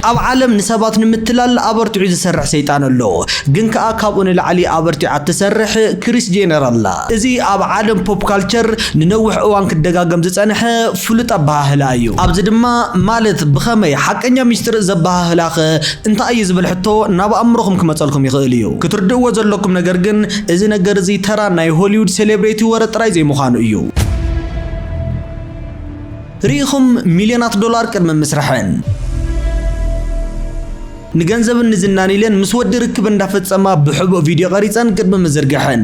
ኣብ ዓለም ንሰባት ንምትላል ኣበርቲዑ ዝሰርሕ ሰይጣን ኣሎ ግን ከኣ ካብኡ ንላዕሊ ኣበርቲዓ እትሰርሕ ክሪስ ጄነር ኣላ። እዚ ኣብ ዓለም ፖፕ ካልቸር ንነዊሕ እዋን ክደጋገም ዝጸንሐ ፍሉጥ ኣበሃህላ እዩ። ኣብዚ ድማ ማለት ብኸመይ ሓቀኛ ሚስጥር ዘበሃህላኸ እንታይ እዩ ዝብል ሕቶ ናብ ኣእምሮኹም ክመጸልኩም ይኽእል እዩ። ክትርድእዎ ዘለኩም ነገር ግን እዚ ነገር እዚ ተራ ናይ ሆሊውድ ሴሌብሬቲ ወረ ጥራይ ዘይምዃኑ እዩ። ርኢኹም ሚልዮናት ዶላር ቅድሚ ምስርሐን ንገንዘብን ንዝናን ኢለን ምስ ወዲ ርክብ እንዳፈጸማ ብሕቡእ ቪድዮ ቀሪጸን ቅድሚ ምዝርግሐን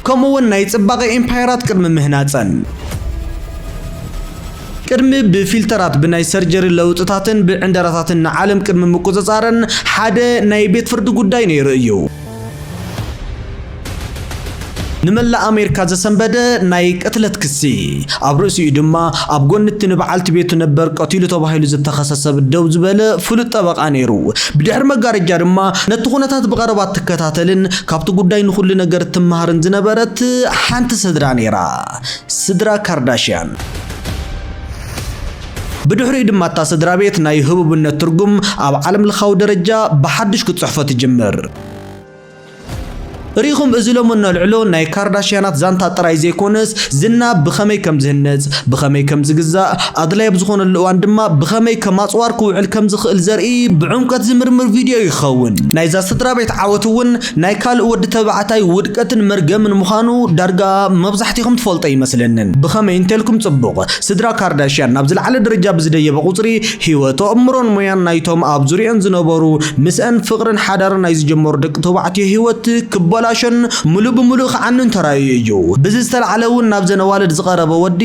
ከምኡ'ውን ናይ ጽባቐ ኤምፓየራት ቅድሚ ምህናጸን ቅድሚ ብፊልተራት ብናይ ሰርጀሪ ለውጥታትን ብዕንደራታትን ንዓለም ቅድሚ ምቁጽጻረን ሓደ ናይ ቤት ፍርዲ ጉዳይ ነይሩ እዩ። ንመላእ ኣሜሪካ ዘሰንበደ ናይ ቅትለት ክሲ፣ ኣብ ርእሲኡ ድማ ኣብ ጎኒ እቲ ንበዓልቲ ቤቱ ነበር ቀቲሉ ተባሂሉ ዝተኸሰ ሰብ ደው ዝበለ ፍሉጥ ጠበቓ ነይሩ። ብድሕሪ መጋረጃ ድማ ነቲ ኩነታት ብቐረባ እትከታተልን ካብቲ ጉዳይ ንኹሉ ነገር እትመሃርን ዝነበረት ሓንቲ ስድራ ነይራ። ስድራ ካርዳሽያን። ብድሕሪኡ ድማ እታ ስድራ ቤት ናይ ህቡብነት ትርጉም ኣብ ዓለም ለኻዊ ደረጃ ብሓድሽ ክትጽሕፎ ትጅምር። ርኢኹም እዚ ሎሚ እነልዕሎ ናይ ካርዳሽያናት ዛንታ ጥራይ ዘይኮነስ ዝና ብኸመይ ከም ዝህነጽ፣ ብኸመይ ከም ዝግዛእ፣ ኣድላይ ኣብ ዝኾነሉ እዋን ድማ ብኸመይ ከም ኣጽዋር ክውዕል ከም ዝኽእል ዘርኢ ብዕምቆት ዝምርምር ቪድዮ እዩ ክኸውን። ናይዛ ስድራ ቤት ዓወት እውን ናይ ካልእ ወዲ ተባዕታይ ውድቀትን መርገምን ምዃኑ ዳርጋ መብዛሕቲኹም ትፈልጦ ይመስለንን። ብኸመይ እንተልኩም ጽቡቕ፣ ስድራ ካርዳሽያን ናብ ዝለዓለ ደረጃ ብዝደየበ ቁጽሪ፣ ህይወት፣ ኣእምሮን ሞያን ናይቶም ኣብ ዙርየኣን ዝነበሩ፣ ምስኣን ፍቕርን ሓዳርን ናይ ዝጀመሩ ደቂ ተባዕትዮ ህይወት ክበላሾን ምሉእ ብምሉእ ክዓኑን ተራእዩ እዩ። ብዚ ዝተላዕለ እውን ናብዘን ኣዋልድ ዝቐረበ ወዲ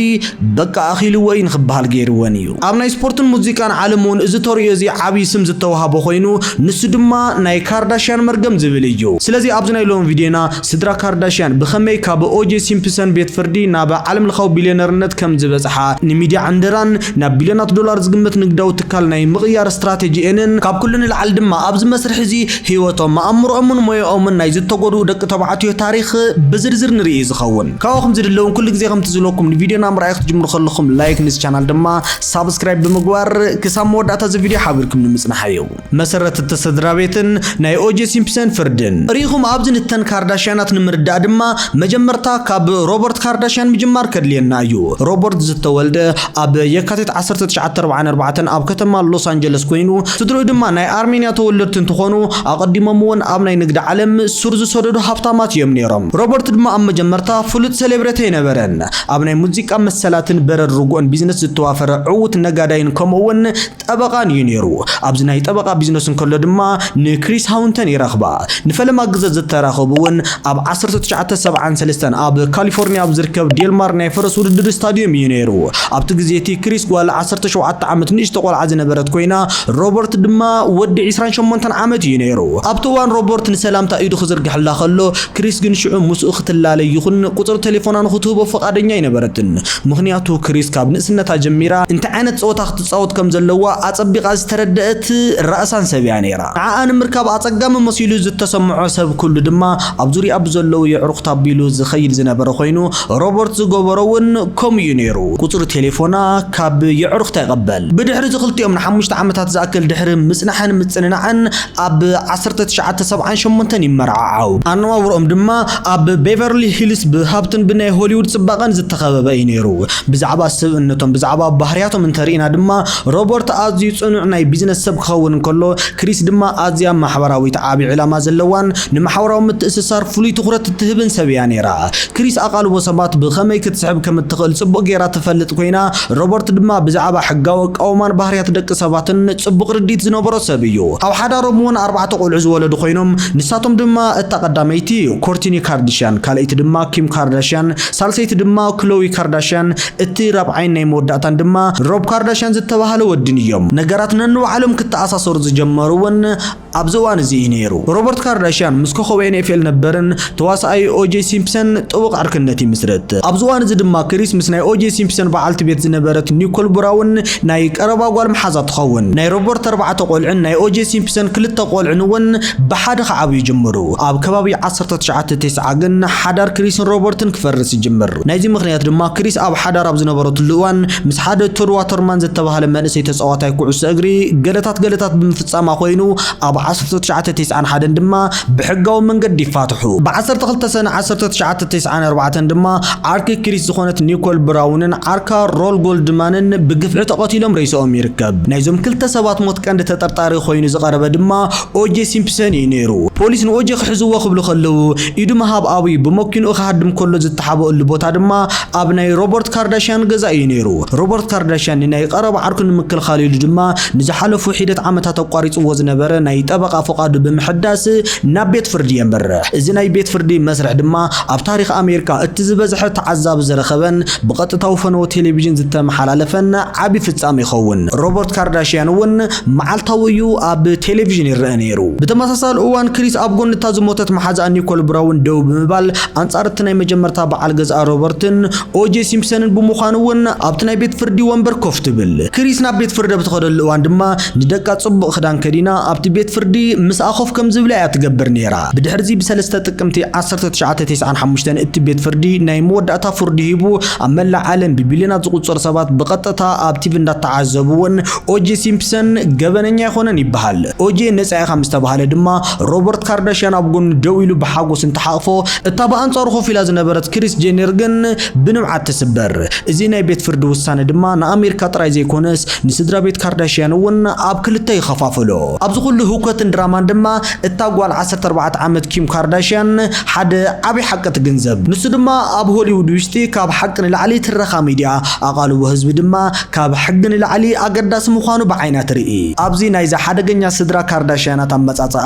በቃ ኣኺልዎ እዩ ንኽበሃል ገይርወን እዩ። ኣብ ናይ ስፖርትን ሙዚቃን ዓለም እውን እዚ ተርእዮ እዚ ዓብይ ስም ዝተውሃቦ ኮይኑ ንሱ ድማ ናይ ካርዳሽያን መርገም ዝብል እዩ። ስለዚ ኣብዚ ናይ ሎሚ ቪድዮና ስድራ ካርዳሽያን ብኸመይ ካብ ኦጄ ሲምፕሰን ቤት ፍርዲ ናብ ዓለም ለኻዊ ቢልዮነርነት ከም ዝበፅሓ ንሚድያ ዕንደራን ናብ ቢልዮናት ዶላር ዝግመት ንግዳዊ ትካል ናይ ምቕያር ስትራቴጂኤንን ካብ ኩሉ ንላዕሊ ድማ ኣብዚ መስርሕ እዚ ህይወቶም፣ ኣእምሮኦምን ሞያኦምን ናይ ዝተጎድኡ ደቂ ተባዕትዮ ታሪኽ ብዝርዝር ንርኢ ዝኸውን። ካባኹም ዝድለውን ኩሉ ግዜ ከምቲ ዝብለኩም ንቪድዮና ምርኣይ ክትጅምሩ ከለኹም ላይክ ንዚ ቻናል ድማ ሳብስክራይብ ብምግባር ክሳብ መወዳእታ እዚ ቪድዮ ሓቢርኩም ንምጽናሓዮ መሰረት እተሰድራ ቤትን ናይ ኦጀ ሲምፕሰን ፍርድን ርኢኹም ኣብዚ ንተን ካርዳሽያናት ንምርዳእ ድማ መጀመርታ ካብ ሮበርት ካርዳሽያን ምጅማር ከድልየና እዩ ሮበርት ዝተወልደ ኣብ የካቲት 1944 ኣብ ከተማ ሎስ ኣንጀለስ ኮይኑ ስድርኡ ድማ ናይ ኣርሜንያ ተወለድቲ እንትኾኑ ኣቐዲሞም እውን ኣብ ናይ ንግዲ ዓለም ሱር ዝሰደዱ ሃብታማት እዮም ነይሮም። ሮበርት ድማ ኣብ መጀመርታ ፍሉጥ ሰሌብረቲ ኣይነበረን። ኣብ ናይ ሙዚቃ መሰላትን በረድ ርጉእን ቢዝነስ ዝተዋፈረ ዕዉት ነጋዳይን ከምኡ'ውን ጠበቓን እዩ ነይሩ። ኣብዚ ናይ ጠበቓ ቢዝነስ እንከሎ ድማ ንክሪስ ሃውንተን ይረኽባ። ንፈለማ ግዘ ዝተራኸቡ እውን ኣብ ዓሰርተ ትሽዓተ ሰብዓን ሰለስተን ኣብ ካሊፎርኒያ ኣብ ዝርከብ ዴልማር ናይ ፈረስ ውድድር ስታድዩም እዩ ነይሩ። ኣብቲ ግዜ እቲ ክሪስ ጓል ዓሰርተ ሸውዓተ ዓመት ንእሽቶ ቆልዓ ዝነበረት ኮይና፣ ሮበርት ድማ ወዲ ዕስራን ሸሞንተን ዓመት እዩ ነይሩ። ኣብቲ እዋን ሮበርት ንሰላምታ ኢዱ ክዝርግሐላ ከሎ፣ ክሪስ ግን ሽዑ ምስኡ ክትላለ ይኹን ቁጽሪ ተሌፎና ንኽትህቦ ፍቓደኛ ኣይነበረትን። ምኽንያቱ ክሪስ ካብ ንእስነታ ጀሚራ እንታይ ዓይነት ጸወታ ክትጻወት ከም ዘለዋ ኣጸቢቓ ዝተረደኣት ራእሳን ሰብ እያ ነይራ። ንዓኣ ንምርካብ ኣጸጋሚ መሲሉ ዝተሰምዖ ሰብ ኩሉ ድማ ኣብ ዙርያኣ ብዘለዉ የዕሩኽታ ኣቢሉ ዝኸይድ ዝነበረ ኮይኑ፣ ሮበርት ዝገበሮ እውን ከምኡ እዩ ነይሩ። ቁጽሪ ተሌፎና ካብ የዕሩኽታ ይቐበል። ብድሕሪ እዚ ክልቲኦም ንሓሙሽተ ዓመታት ዝኣክል ድሕሪ ምጽናሕን ምጽንናዕን ኣብ ዓሰርተ ትሽዓተ ሰብዓን ሸሞንተን ይመርዓዓው። ኣነባብርኦም ድማ ኣብ ቤቨርሊ ሂልስ ብሃብትን ብናይ ሆሊውድ ጽባቐን ዝተኸበበ እዩ ነይሩ። ብዛዕባ ስብእነቶም፣ ብዛዕባ ባህርያቶም እንተ ርኢና ድማ ሮበርት ኣዝዩ ጽኑዕ ናይ ቢዝነስ ሰብ ክኸውን እንከሎ ክሪስ ድማ ኣዝያ ማሕበራዊት ዓቢ ዕላማ ዘለዋን ንማሕበራዊ ምትእስሳር ፍሉይ ትኹረት እትህብን ሰብ እያ ነይራ። ክሪስ ኣቓልቦ ሰባት ብኸመይ ክትስሕብ ከም እትኽእል ጽቡቕ ገይራ ትፈልጥ ኰይና ሮበርት ድማ ብዛዕባ ሕጋዊ ኣቃውማን ባህርያት ደቂ ሰባትን ጽቡቕ ርድኢት ዝነበሮ ሰብ እዩ። ኣብ ሓዳሮም እውን ኣርባዕተ ቆልዑ ዝወለዱ ኮይኖም፣ ንሳቶም ድማ እታ ቀዳመይቲ ኮርቲኒ ካርድሽያን፣ ካልኣይቲ ድማ ኪም ካርዳሽያን፣ ሳልሰይቲ ድማ ክሎዊ ካርዳሽያን፣ እቲ ራብዓይን ናይ መወዳእታን ድማ ሮብ ካርዳሽያን ዝተባህለ ወዲን እዮም። ነገራት ነንባዕሎም ክተኣሳሰሩ ዝጀመሩ እውን ኣብዚ እዋን እዚ እዩ ነይሩ። ሮበርት ካርዳሽያን ምስ ኮኾብ ኤንኤፍኤል ነበርን ተዋሳኣይ ኦጀይ ሲምፕሰን ጥቡቕ ዕርክነት ይምስርት። ኣብዚ እዋን እዚ ድማ ክሪስ ምስ ናይ ኦጀይ ሲምፕሰን በዓልቲ ቤት ዝነበረት ኒኮል ብራውን ናይ ቀረባ ጓል መሓዛ ትኸውን። ናይ ሮበርት ኣርባዕተ ቆልዑን ናይ ኦጀይ ሲምፕሰን ክልተ ቆልዑን እውን ብሓደ ክዓብዩ ይጅምሩ። ኣብ ከባቢ ዓሰርተ ትሽዓተ ቴስዓ ግን ሓዳር ክሪስን ሮበርትን ክፈርስ ይጅምር። ናይዚ ምኽንያት ድማ ክሪስ ኣብ ሓዳር ኣብ ዝነበረትሉ እዋን ምስ ሓደ ቶድ ዋተርማን ዘተባህለ መንእሰይ ተጻዋታይ ኩዕሶ እግሪ ገለታት ገለታት ብምፍጻም ጻማ ኮይኑ ኣብ ዓሰርተ ትሽዓተ ቴስዓን ሓደን ድማ ብሕጋዊ መንገዲ ይፋትሑ። ብ ዓሰርተ ክልተ ሰነ ዓሰርተ ትሽዓተ ቴስዓን ኣርባዕተን ድማ ዓርኪ ክሪስ ዝኾነት ኒኮል ብራውንን ዓርካ ሮል ጎልድማንን ብግፍዒ ተቐቲሎም ሬሳኦም ይርከብ። ናይዞም ክልተ ሰባት ሞት ቀንዲ ተጠርጣሪ ኮይኑ ዝቐረበ ድማ ኦጄ ሲምፕሰን እዩ ነይሩ። ፖሊስ ንኦጄ ክሕዝዎ ክብሉ ከለዉ ኢዱ ምሃብ ኣብዩ። ብመኪንኡ ክሃድም ከሎ ዝተሓበእሉ ቦታ ድማ ኣብ ናይ ሮበርት ካርዳሽያን ገዛ እዩ ነይሩ። ሮበርት ካርዳሽያን ንናይ ቐረባ ዓርኩ ንምክልኻል ኢሉ ድማ ንዝሓለፉ ሒደት ዓመታት ኣቋሪጽዎ ዝነበረ ናይ ጠበቓ ፍቓዱ ብምሕዳስ ናብ ቤት ፍርዲ የምርሕ። እዚ ናይ ቤት ፍርዲ መስርሕ ድማ ኣብ ታሪኽ ኣሜሪካ እቲ ዝበዝሐ ተዓዛቢ ዝረኸበን ብቐጥታዊ ፈነወ ቴሌቪዥን ዝተመሓላለፈን ዓቢ ፍጻመ ይኸውን። ሮበርት ካርዳሽያን እውን መዓልታዊ እዩ ኣብ ቴሌቪዥን ይረኣ ነይሩ። ብተመሳሳሊ እዋን ክሪስ ኣብ ጎኒ እታ ዝሞተት መሓዛኣ ኒኮል ብራውን ደው ብምባል ኣንጻር እቲ ናይ መጀመርታ በዓል ገዛኣ ሮበርትን ኦጄ ሲምፕሰንን ብምዃኑ እውን ኣብቲ ናይ ቤት ፍርዲ ወንበር ኮፍ ትብል። ክሪስ ናብ ቤት ፍርዲ ኣብ ትኸደሉ እዋን ድማ ንደቃ ጽቡቕ ክዳን ከዲና ኣብቲ ቤት ፍርዲ ምስኣ ኮፍ ከም ዝብላ እያ ትገብር ነይራ። ብድሕርዚ ብሰለስተ ጥቅምቲ ዓሰርተ ትሽዓተ ቴስዓን ሓሙሽተን እቲ ቤት ፍርዲ ናይ መወዳእታ ፍርዱ ሂቡ ኣብ መላእ ዓለም ብቢልዮናት ዝቑጸሩ ሰባት ብቐጥታ ኣብ ቲቪ እንዳተዓዘብዎን ኦጄ ሲምፕሰን ገበነኛ ኣይኮነን ይበሃል ኦጄ ነጻ ኢኻ ምስ ተባህለ ድማ ሮበርት ካርዳሽያን ኣብ ጎኑ ደው ኢሉ ብሓጎስ እንተሓቕፎ እታ ብኣንጻሩ ኮፍ ኢላ ዝነበረት ክሪስ ጄኒር ግን ብንብዓት ትስበር። እዚ ናይ ቤት ፍርዲ ውሳነ ድማ ንኣሜሪካ ጥራይ ዘይኮነስ ንስድራ ቤት ካርዳሽያን እውን ኣብ ክልተ ይኸፋፍሎ። ኣብዚ ኩሉ ህውከትን ድራማን ድማ እታ ጓል ዓሰርተ ኣርባዕተ ዓመት ኪም ካርዳሽያን ሓደ ዓቢ ሓቂ ትግንዘብ። ንሱ ድማ ኣብ ሆሊውድ ውሽጢ ካብ ሓቂ ንላዕሊ ትረኻ ሚድያ፣ ኣቓልቦ ህዝቢ ድማ ካብ ሕጊ ንላዕሊ ኣገዳሲ ምዃኑ ብዓይና ትርኢ። ኣብዚ ናይዛ ሓደገኛ ስድራ ካርዳሽያናት ኣመጻጽኣ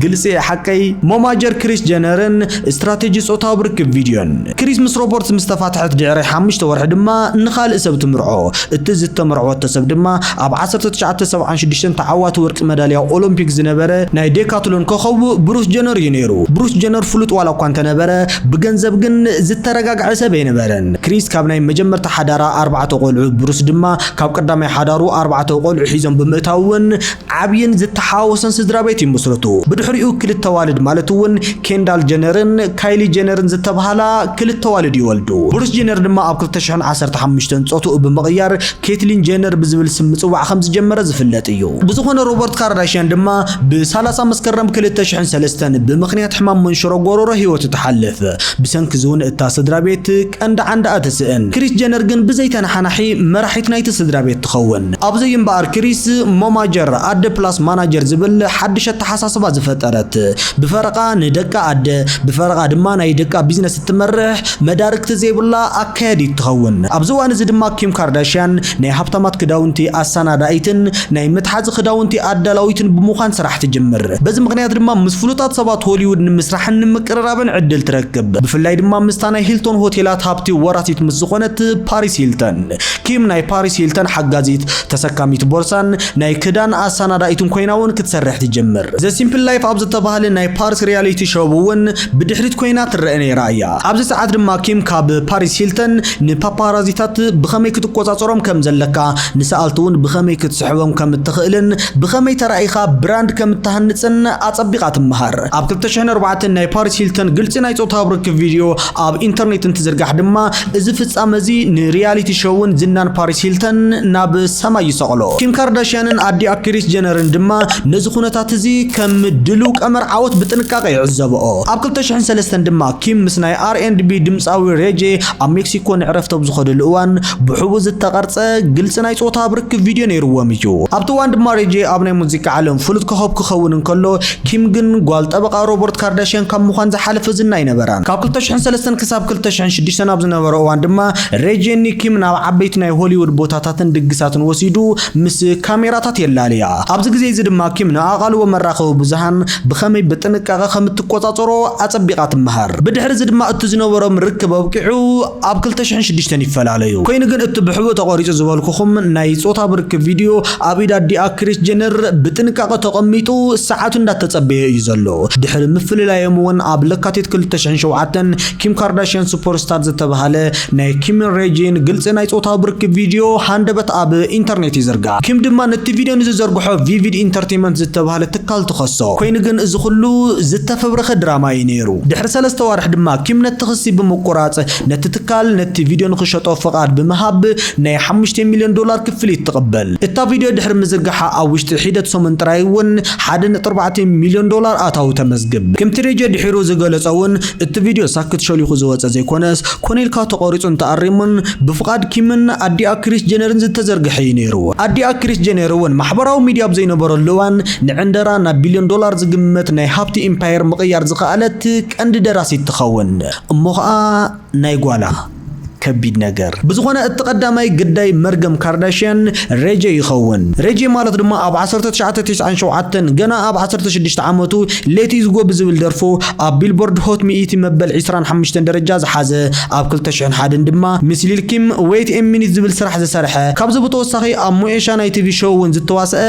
ግልጺ እየ ሓቀይ? ሞማጀር ክሪስ ጀነርን ስትራቴጂ ጾታዊ ርክብ ቪድዮን። ክሪስ ምስ ሮበርትስ ምስ ተፋትሐት ድሕሪ ሓሙሽተ ወርሒ ድማ ንኻልእ ሰብ ትምርዖ። እቲ ዝተመርዕወቶ ሰብ ድማ ኣብ ዓሰርተ ትሽዓተ ሰብዓን ሽዱሽተን ተዓዋቲ ወርቂ መዳልያ ኦሎምፒክ ዝነበረ ናይ ዴካትሎን ኮኾብ ብሩስ ጀነር እዩ ነይሩ። ብሩስ ጀነር ፍሉጥ ዋላ እኳ እንተነበረ፣ ብገንዘብ ግን ዝተረጋግዐ ሰብ ኣይነበረን። ክሪስ ካብ ናይ መጀመርታ ሓዳራ ኣርባዕተ ቆልዑ፣ ብሩስ ድማ ካብ ቀዳማይ ሓዳሩ ኣርባዕተ ቆልዑ ሒዞም ብምእታው'ውን ዓብይን ዝተሓዋወሰን ስድራቤት ይምስርቱ። ብድሕሪኡ ክልተ ኣዋልድ ማለት'ውን ኬንዳል ጀነርን ካይሊ ጀነርን ዝተብሃላ ክልተ ኣዋልድ ይወልዱ። ብሩስ ጀነር ድማ ኣብ ክልተ ሽሕን ዓሰርተ ሓሙሽተን ፆትኡ ብምቕያር ኬትሊን ጀነር ብዝብል ስም ምጽዋዕ ከም ዝጀመረ ዝፍለጥ እዩ። ብዝኾነ ሮበርት ካርዳሽያን ድማ ብ ሰላሳ መስከረም ክልተ ሽሕን ሰለስተን ብምኽንያት ሕማም መንሽሮ ጎሮሮ ህይወቱ ትሓልፍ። ብሰንኪ እዚ ውን እታ ስድራቤት ቀንዲ ዓንዳኣ ትስእን። ክሪስ ጀነር ግን ብዘይ ተነሓናሒ መራሒት ናይቲ ስድራቤት ትኸውን። ኣብ'ዚ እዩ እምበኣር ክሪስ ሞማጀር፣ ኣደ ፕላስ ማናጀር፣ ዝብል ሓድሽ ኣተሓሳስባ ዝፈጠረት። ብፈረቓ ንደቃ ኣደ፣ ብፈረቓ ድማ ናይ ደቃ ቢዝነስ፣ ትመርሕ መዳርግቲ ዘይብላ ኣካያዲት ትኸውን። ኣብዚ እዋን እዚ ድማ ኪም ካርዳሽያን ናይ ሃብታማት ክዳውንቲ ኣሰናዳኢትን ናይ መትሓዚ ክዳውንቲ ኣዳላዊትን ብምዃን ስራሕ ትጅምር። በዚ ምኽንያት ድማ ምስ ፍሉጣት ሰባት ሆሊውድ ንምስራሕን ንምቅርራብን ዕድል ትረክብ። ብፍላይ ድማ ምስታ ናይ ሂልቶን ሆቴላት ሃብቲ ወራሲት ምስ ዝኾነት ፓሪስ ሂልተን። ኪም ናይ ፓሪስ ሂልተን ሓጋዚት፣ ተሰካሚት ቦርሳን ናይ ክዳን ኣሰናዳኢትን ኮይና እውን ክትሰርሕ ትጅምር። ዘ ሲምፕል ላይፍ ኣብ ዝተባህለ ናይ ፓሪስ ሪያሊቲ ሾው እውን ብድሕሪት ኰይና ትረኣ ነይራ እያ። ኣብዚ ሰዓት ድማ ኪም ካብ ፓሪስ ሂልተን ንፓፓራዚታት ብኸመይ ክትቈጻጸሮም ከም ዘለካ፣ ንሰኣልቲ'ውን ብኸመይ ክትስሕቦም ከም እትኽእልን ብኸመይ ተራኢኻ ብራንድ ከም እትሃንጽን ኣጸቢቓ ትመሃር። ኣብ ክልተ ሽሕን ኣርባዕተን ናይ ፓሪስ ሂልተን ግልጺ ናይ ጾታዊ ርክብ ቪድዮ ኣብ ኢንተርኔት እንትዝርጋሕ ድማ እዚ ፍጻመ እዚ ንሪያሊቲ ሾውን ዝናን ፓሪስ ሂልተን ናብ ሰማይ ይሰቕሎ። ኪም ካርዳሽያንን ኣዲኣ ክሪስ ጀነርን ድማ ነዚ ኵነታት እዚ ከም ድሉው ቀመር ዓወት ብጥንቃቐ ብጥንቃቐ ይዕዘበኦ። ኣብ ክልተ ሽሕን ሰለስተን ድማ ኪም ምስ ናይ ኣር ኤንድ ቢ ድምጻዊ ሬይ ጄ ኣብ ሜክሲኮ ንዕረፍቲ ኣብ ዝኸደሉ እዋን ብሕቡእ ዝተቐርጸ ግልጺ ናይ ጾታዊ ርክብ ቪድዮ ነይርዎም እዩ። ኣብቲ እዋን ድማ ሬይ ጄ ኣብ ናይ ሙዚቃ ዓለም ፍሉጥ ኮኾብ ክኸውን እንከሎ ኪም ግን ጓል ጠበቓ ሮበርት ካርዳሽያን ካብ ምዃን ዝሓለፈ ዝና ኣይነበራን። ካብ ክልተ ሽሕን ሰለስተን ክሳብ ክልተ ሽሕን ሽዱሽተን ኣብ ዝነበረ እዋን ድማ ሬይ ጄ ንኪም ናብ ዓበይቲ ናይ ሆሊውድ ቦታታትን ድግሳትን ወሲዱ ምስ ካሜራታት የላልያ። ኣብዚ ግዜ'ዚ ድማ ኪም ንኣቓልቦ መራኸቢ ብዙሃን ብኸመይ ብጥንቃቐ ከም እትቈጻጸሮ ኣጸቢቓ ትመሃር። ብድሕሪ እዚ ድማ እቲ ዝነበሮም ርክብ ኣብቂዑ ኣብ ክልተ ሽሕን ሽዱሽተን ይፈላለዩ። ኰይኑ ግን እቲ ብሕቡእ ተቘሪጹ ዝበልኩኹም ናይ ጾታዊ ርክብ ቪድዮ ኣብ ኢድ ኣዲኣ ክሪስ ጀነር ብጥንቃቐ ተቐሚጡ ሰዓቱ እንዳተጸበየ እዩ ዘሎ። ድሕሪ ምፍልላዮም እውን ኣብ ለካቲት ክልተ ሽሕን ሸውዓተን ኪም ካርዳሽያን ሱፐርስታር ዝተበሃለ ናይ ኪምን ሬጂን ግልጺ ናይ ጾታዊ ብርኪ ቪድዮ ሃንደበት ኣብ ኢንተርኔት ይዝርጋሕ። ኪም ድማ ነቲ ቪድዮ ንዝዘርግሖ ቪቪድ ኢንተርቴመንት ዝተባህለ ትካል ትኸሶ። ኮይኑ ግን እዚ ኩሉ ዝተፈብረኸ ድራማ እዩ ነይሩ። ድሕሪ ሰለስተ ኣዋርሕ ድማ ኪም ነቲ ክሲ ብምቁራጽ ነቲ ትካል ነቲ ቪድዮ ንኽሸጦ ፍቓድ ብምሃብ ናይ ሓሙሽተ ሚልዮን ዶላር ክፍሊት ትቕበል። እታ ቪድዮ ድሕሪ ምዝርጋሓ ኣብ ውሽጢ ሒደት ሰሙን ጥራይ እውን ሓደ ነጥቢ ኣርባዕተ ሚልዮን ዶላር ኣታዊ ተመዝግብ። ከምቲ ሬጂ ድሒሩ ዝገለጾ እውን እቲ ቪድዮ ሳክት ሸሊኹ ዝወጸ ዘይኮነስ ኮነ ኢልካ ተቖሪጹን ተኣሪሙን ብፍቓድ ኪምን ኣዲኣ ክሪስ ጀነርን ዝተዘርግሐ እዩ ነይሩ። ኣዲኣ ክሪስ ጀነር እውን ማሕበራዊ ሚድያ ኣብ ዘይነበረሉ እዋን ንዕንደራ ናብ ቢልዮን ዶላር ዝግመት ናይ ሃብቲ ኢምፓየር ምቕያር ዝኸኣለት ቀንዲ ደራሲት ትኸውን። እሞ ኸኣ ናይ ጓላ። ከቢድ ነገር። ብዝኾነ እቲ ቀዳማይ ግዳይ መርገም ካርዳሽያን ሬጀ ይኸውን። ሬጀ ማለት ድማ ኣብ ዓሰርተ ትሽዓተ ቴስዓን ሸውዓተን ገና ኣብ ዓሰርተ ሽዱሽተ ዓመቱ ሌት ኢዝ ጎ ብዝብል ደርፉ ኣብ ቢልቦርድ ሆት ሚእቲ መበል ዕስራን ሓምሽተን ደረጃ ዝሓዘ፣ ኣብ ክልተ ሽሕን ሓደን ድማ ምስ ሊል ኪም ዌይት ኤ ሚኒት ዝብል ስራሕ ዝሰርሐ፣ ካብዚ ብተወሳኺ ኣብ ሞኤሻ ናይ ቲቪ ሾው እውን ዝተዋስኣ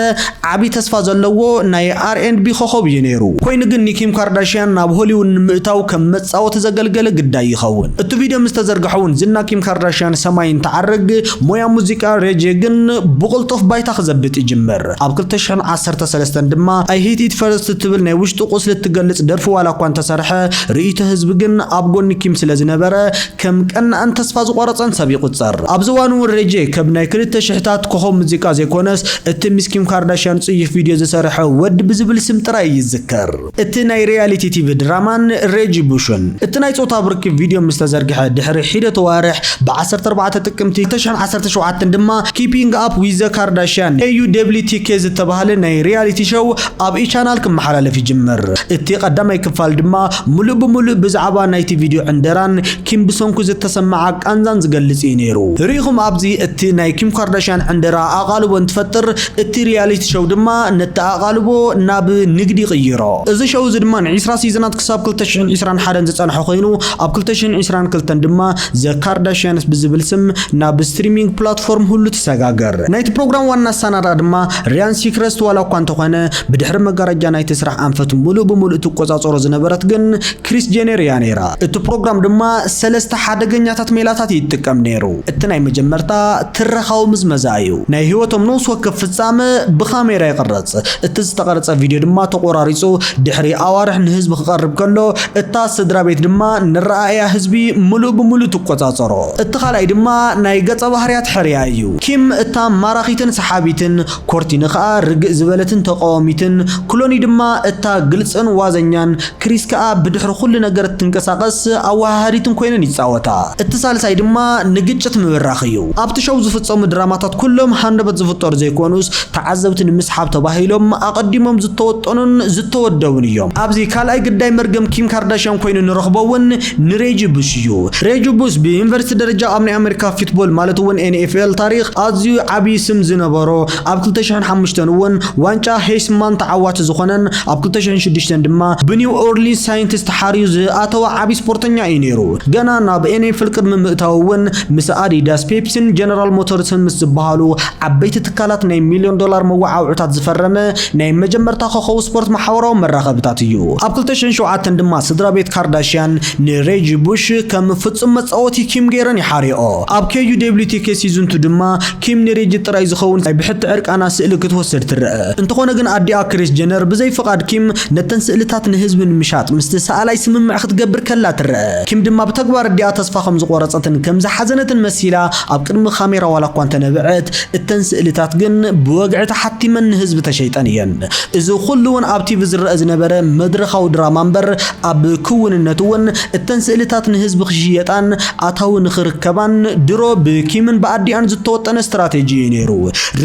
ዓቢ ተስፋ ዘለዎ ናይ ኣር ኤንድ ቢ ኮኾብ እዩ ነይሩ። ኮይኑ ግን ንኪም ካርዳሽያን ናብ ሆሊውድ ንምእታው ከም መጻወቲ ዘገልገለ ግዳይ ይኸውን። እቲ ቪድዮ ምስ ተዘርግሐ እውን ዝና ኪም ካርዳሽያን ሰማይ እንትዓርግ፣ ሞያ ሙዚቃ ሬጄ ግን ብቕልጡፍ ባይታ ክዘብጥ ይጅምር። ኣብ ክልተ ሽሕን ዓሰርተ ሰለስተን ድማ I hit it first እትብል ናይ ውሽጡ ቁስሊ እትገልጽ ደርፊ ዋላ እኳ እንተሰርሐ፣ ርእይቶ ህዝቢ ግን ኣብ ጎኒ ኪም ስለ ዝነበረ፣ ከም ቀናእን ተስፋ ዝቖረጸን ሰብ ይቑጸር። ኣብዚ እዋን'ውን ሬይ ጄይ ከብ ናይ ክልተ ሽሕታት ኮኾብ ሙዚቃ ዘይኮነስ፣ እቲ ምስ ኪም ካርዳሽያን ጽዩፍ ቪድዮ ዝሰርሐ ወድ ብዝብል ስም ጥራይ እዩ ዝዝከር። እቲ ናይ ሪያሊቲ ቲቪ ድራማን ሬጂ ቡሽን እቲ ናይ ጾታዊ ርክብ ቪድዮ ምስ ተዘርግሐ ድሕሪ ሒደት ኣዋርሕ ብ ዓሰርተ ኣርባዕተ ጥቅምቲ ክልተ ሽሕን ዓሰርተ ሸውዓተን ድማ ኪፒንግ ኣፕ ዊዝ ዘ ካርዳሽያን፣ KUWTK፣ ዝተባህለ ናይ ሪያሊቲ ሸው ኣብ ኢ-ቻናል ክመሓላለፍ ይጅምር። እቲ ቀዳማይ ክፋል ድማ ምሉእ ብምሉእ ብዛዕባ ናይቲ ቪድዮ ዕንደራን ኪም ብሰንኩ ዝተሰመዓ ቃንዛን ዝገልጽ እዩ ነይሩ። ርኢኹም ኣብዚ እቲ ናይ ኪም ካርዳሽያን ዕንደራ ኣቓልቦ እንትፈጥር እቲ ሪያሊቲ ሸው ድማ ነቲ ኣቓልቦ ናብ ንግዲ ይቕይሮ። እዚ ሸው እዚ ድማ ንዒስራ ሲዝናት ክሳብ ክልተ ሽሕን ዒስራን ሓደን ዝጸንሐ ኮይኑ፣ ኣብ ክልተ ሽሕን ዒስራን ክልተን ድማ The Kardashians ብዝብል ስም ናብ ስትሪሚንግ ፕላትፎርም ሁሉ ተሰጋገር። ናይቲ ፕሮግራም ዋና ኣሰናዳኢ ድማ ሪያን ሲክረስት ዋላ እኳ እንተኾነ፣ ብድሕሪ መጋረጃ ናይቲ ስራሕ ኣንፈት ምሉእ ብምሉእ እትቆጻጸሮ ዝነበረት ግን ክሪስ ጄነር እያ ነይራ። እቲ ፕሮግራም ድማ ሰለስተ ሓደገኛታት ሜላታት እዩ ዝጥቀም ነይሩ። እቲ ናይ መጀመርታ ትረኻዊ ምዝመዛ እዩ። ናይ ህይወቶም ነውሲ ወከፍ ፍጻመ ብካሜራ ይቕረጽ። እቲ ዝተቐርጸ ቪድዮ ድማ ተቖራሪጹ ድሕሪ ኣዋርሕ ንህዝቢ ክቐርብ ከሎ፣ እታ ስድራቤት ድማ ነረኣእያ ህዝቢ ምሉእ ብምሉእ ትቆጻጸሮ። እቲ ካልኣይ ድማ ናይ ገጸባህርያት ሕርያ እዩ። ኪም እታ ማራኺትን ሰሓቢትን፣ ኮርቲኒ ከኣ ርግእ ዝበለትን ተቓዋሚትን፣ ክሎኒ ድማ እታ ግልጽን ዋዘኛን ክሪስ ከኣ ብድሕሪ ኩሉ ነገር እትንቀሳቐስ ኣወሃሃዲትን ኮይነን ይጻወታ። እቲ ሳልሳይ ድማ ንግጭት ምብራኽ እዩ። ኣብቲ ሸው ዝፍጸሙ ድራማታት ኩሎም ሃንደበት ዝፍጠሩ ዘይኮኑስ ተዓዘብቲ ንምስሓብ ተባሂሎም ኣቐዲሞም ዝተወጠኑን ዝተወደቡን እዮም። ኣብዚ ካልኣይ ግዳይ መርገም ኪም ካርዳሽያን ኮይኑ ንረኽቦ እውን ንሬጂ ቡሽ እዩ። ሬጂ ቡሽ ብዩኒቨርሲቲ ደረጃ ኣብ ናይ ኣመሪካ ፊትቦል ማለት እውን NFL ታሪኽ ኣዝዩ ዓብዪ ስም ዝነበሮ፣ ኣብ ክልተ ሽሕን ሓሙሽተን እውን ዋንጫ ሄይስማን ተዓዋቲ ዝኾነን ኣብ ክልተ ሽሕን ሽዱሽተን ድማ ብኒው ኦርሊንስ ሳይንትስ ተሓርዩ ዝኣተወ ዓብዪ ስፖርተኛ እዩ ነይሩ። ገና ናብ ኤንኤፍል ቅድሚ ምእታዉ እውን ምስ ኣዲዳስ፣ ፔፕሲን ጀነራል ሞተርስን ምስ ዝበሃሉ ዓበይቲ ትካላት ናይ ሚልዮን ዶላር መወዓውዕታት ዝፈረመ ናይ መጀመርታ ኮኸው ስፖርት ማሕበራዊ መራኸብታት እዩ። ኣብ ክልተ ሽሕን ሸውዓተን ድማ ስድራቤት ካርዳሽያን ንሬጂ ቡሽ ከም ፍጹም መጻወቲ ኪም ገይረን ይሓርየኦ። ኣብ KUWTK ሲዝን ቱ ድማ ኪም ንሪጅ ጥራይ ዝኸውን ናይ ብሕቲ ዕርቃና ስእሊ ክትወስድ ትረኣ። እንተኾነ ግን ኣዲኣ ክሪስ ጀነር ብዘይ ፍቓድ ኪም ነተን ስእልታት ንህዝቢ ንምሻጥ ምስቲ ሰኣላይ ስምምዕ ክትገብር ከላ ትረኣ። ኪም ድማ ብተግባር ኣዲኣ ተስፋ ከም ዝቖረጸትን ከም ዝሓዘነትን መሲላ ኣብ ቅድሚ ካሜራ ዋላ እኳ እንተነበዐት፣ እተን ስእልታት ግን ብወግዒ ተሓቲመን ንህዝቢ ተሸይጠን እየን። እዚ ኹሉ'ውን ኣብ ቲቪ ዝረኣ ዝነበረ መድረኻዊ ድራማ እምበር ኣብ ክውንነት'ውን እተን ስእልታት ንህዝቢ ክሽየጣን ኣታዊ ንኽርከባን ድሮ ብኪምን ብኣዲኣን ዝተወጠነ ስትራቴጂ እዩ ነይሩ።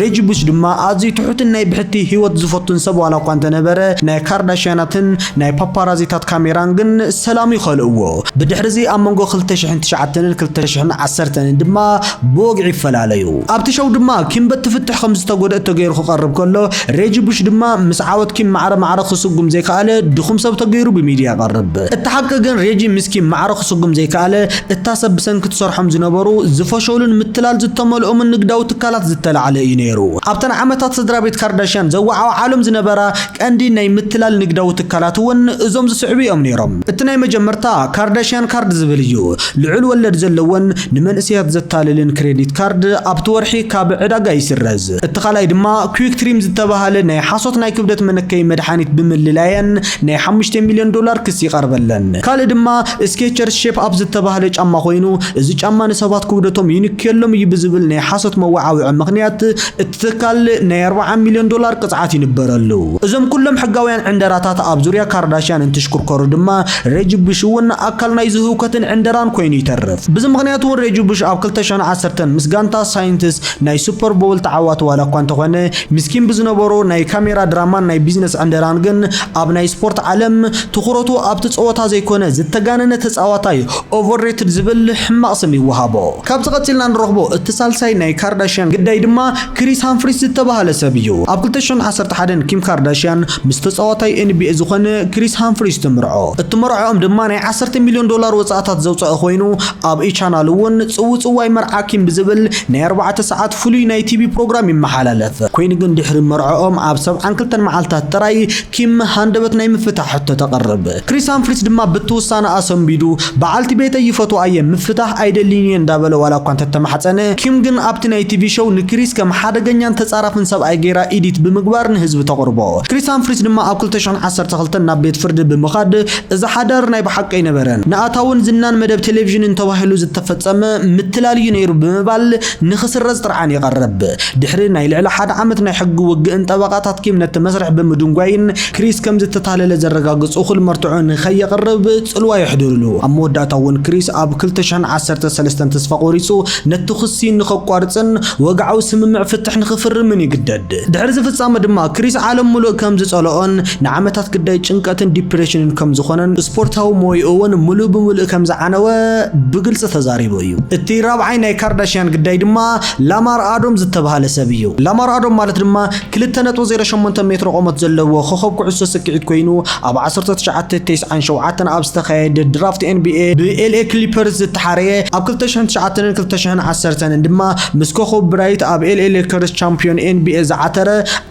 ሬጂ ቡሽ ድማ ኣዝዩ ትሑትን ናይ ብሕቲ ህይወት ዝፈቱን ሰብ ዋላ እኳ እንተነበረ፣ ናይ ካርዳሽያናትን ናይ ፓፓራዚታት ካሜራን ግን ሰላም እዩ ከልእዎ። ብድሕርዚ ኣብ መንጎ ክልተ ሽሕን ትሽዓተንን ክልተ ሽሕን ዓሰርተንን ድማ ብወግዒ ይፈላለዩ። ኣብቲ ሸው ድማ ኪም በቲ ፍትሕ ከም ዝተጎድእት ተገይሩ ክቐርብ ከሎ፣ ሬጂ ቡሽ ድማ ምስ ዓወት ኪም ማዕረ ማዕረ ክስጉም ዘይከኣለ ድኹም ሰብ ተገይሩ ብሚድያ ይቐርብ። እቲ ሓቂ ግን ሬጂ ምስ ኪም ማዕረ ክስጉም ዘይከኣለ እታ ሰብ ብሰንኪ ትሰርሖም ዝነበሩ ዝፈሸሉን ምትላል ዝተመልኦምን ንግዳዊ ትካላት ዝተላዕለ እዩ ነይሩ። ኣብተን ዓመታት ስድራቤት ካርዳሽያን ዘወዓውዓሎም ዝነበራ ቀንዲ ናይ ምትላል ንግዳዊ ትካላት እውን እዞም ዝስዕቡ እዮም ነይሮም። እቲ ናይ መጀመርታ ካርዳሽያን ካርድ ዝብል እዩ። ልዑል ወለድ ዘለዎን ንመንእሰያት ዘታልልን ክሬዲት ካርድ ኣብቲ ወርሒ ካብ ዕዳጋ ይስረዝ። እቲ ካልኣይ ድማ ኩዊክትሪም ዝተባህለ ናይ ሓሶት ናይ ክብደት መነከዪ መድሓኒት ብምልላየን ናይ ሓሙሽተ ሚልዮን ዶላር ክሲ ይቐርበለን። ካልእ ድማ ስኬቸርስ ሼፕ ኣፕ ዝተባህለ ጫማ ኮይኑ እዚ ጫማ ንሰባት ክብደቶም ይንክየሎም እዩ ብዝብል ናይ ሓሶት መወዓውዒ ምኽንያት እቲ ትካል ናይ ኣርብዓ ሚልዮን ዶላር ቅፅዓት ይንበረሉ። እዞም ኩሎም ሕጋውያን ዕንደራታት ኣብ ዙርያ ካርዳሽያን እንትሽኩርከሩ ድማ ሬጂ ቡሽ እውን ኣካል ናይዚ ህውከትን ዕንደራን ኮይኑ ይተርፍ። ብዚ ምኽንያት እውን ሬጂ ቡሽ ኣብ ክልተ ሽሕን ዓሰርተን ምስ ጋንታ ሳይንትስ ናይ ሱፐር ቦውል ተዓዋቲ ዋላ እኳ እንተኾነ፣ ምስኪን ብዝነበሮ ናይ ካሜራ ድራማን ናይ ቢዝነስ ዕንደራን ግን ኣብ ናይ ስፖርት ዓለም ትኹረቱ ኣብቲ ጸወታ ዘይኮነ ዝተጋነነ ተጻዋታይ፣ Overrated፣ ዝብል ሕማቕ ስም ይወሃቦ። ካብዚ ቀጺልና ንረኽቦ እቲ ሳልሳይ ናይ ካርዳሽያን ግዳይ ድማ ክሪስ ሃምፍሪስ ዝተባህለ ሰብ እዩ። ኣብ ክልተ ሽሕን ዓሰርተ ሓደን ኪም ካርዳሽያን ምስ ተጻዋታይ ኤንቢኤ ዝኾነ ክሪስ ሃምፍሪስ ትምርዖ። እቲ መርዕኦም ድማ ናይ ዓሰርተ ሚልዮን ዶላር ወጻእታት ዘውጸኣ ኮይኑ ኣብ E-Channel እውን ጽውጽዋይ መርዓ ኪም ብዝብል ናይ ኣርባዕተ ሰዓት ፍሉይ ናይ ቲቪ ፕሮግራም ይመሓላለፍ። ኮይኑ ግን ድሕሪ መርዕኦም ኣብ ሰብዓን ክልተን መዓልታት ጥራይ ኪም ሃንደበት ናይ ምፍታሕ ሕቶ ተቕርብ። ክሪስ ሃምፍሪስ ድማ ብቲ ውሳነኣ ሰንቢዱ፣ በዓልቲ ቤተይ ይፈትዋ እየ፣ ምፍታሕ ኣይደልይን እየ እንዳበለ ዋላ እኳ እንተተማሕጸነ፣ ኪም ግን ኣብቲ ናይ ቲቪ ሸው ንክሪስ ከም ሓደገኛን ተጻራፍን ሰብኣይ ገይራ ኢዲት ብምግባር ንህዝቢ ተቕርቦ። ክሪስ ሃምፍሪስ ድማ ኣብ ክልተ ሽሕን ዓሰርተ ክልተን ናብ ቤት ፍርዲ ብምኻድ፣ እዚ ሓዳር ናይ ብሓቂ ኣይነበረን፣ ንኣታውን ዝናን መደብ ቴሌቪዥንን ተባሂሉ ዝተፈጸመ ምትላል እዩ ነይሩ ብምባል ንኽስረዝ ጥርዓን የቐርብ። ድሕሪ ናይ ልዕሊ ሓደ ዓመት ናይ ሕጊ ውግእን ጠበቓታት ኪም ነቲ መስርሕ ብምድንጓይን ክሪስ ከም ዝተታለለ ዘረጋግጽ እኹል መርትዖ ንኸየቕርብ ጽልዋ የሕድርሉ። ኣብ መወዳእታ'ውን ክሪስ ኣብ ክልተ ሽሕን ዓሰርተ ሰለስተን ተስፋ ቆሪጹ ነቲ ክሲ ንኸቋርጽን ወግዓዊ ስምምዕ ፍትሕ ንኽፍርምን ይግደድ። ድሕሪ እዚ ፍጻመ ድማ ክሪስ ዓለም ምሉእ ከም ዝጸልኦን ንዓመታት ግዳይ ጭንቀትን ዲፕሬሽንን ከም ዝኾነን ስፖርታዊ ሞይኡ እውን ምሉእ ብምሉእ ከም ዝዓነወ ብግልጺ ተዛሪቡ እዩ። እቲ ራብዓይ ናይ ካርዳሽያን ግዳይ ድማ ላማር ኣዶም ዝተብሃለ ሰብ እዩ። ላማር ኣዶም ማለት ድማ ክልተ ነጥቢ ዜሮ ሸሞንተ ሜትሮ ቆመት ዘለዎ ኮኸብ ኩዕሶ ስኪዒት ኮይኑ ኣብ ዓሰርተ ትሽዓተ፣ ተስዓን ሸውዓተን ኣብ ዝተኻየደ ድራፍት ኤንቢኤ ብኤልኤ ክሊፐርስ ዝተሓረየ ኣብ ክልተ ሽሕን ትሽዓተን ን ክልተ ሽሕን ዓሰርተን ን ድማ ምስ ኮኸብ ብራይት ኣብ ኤልኤ ሌከርስ ቻምፕዮን ኤንቢኤ ዝዓተረ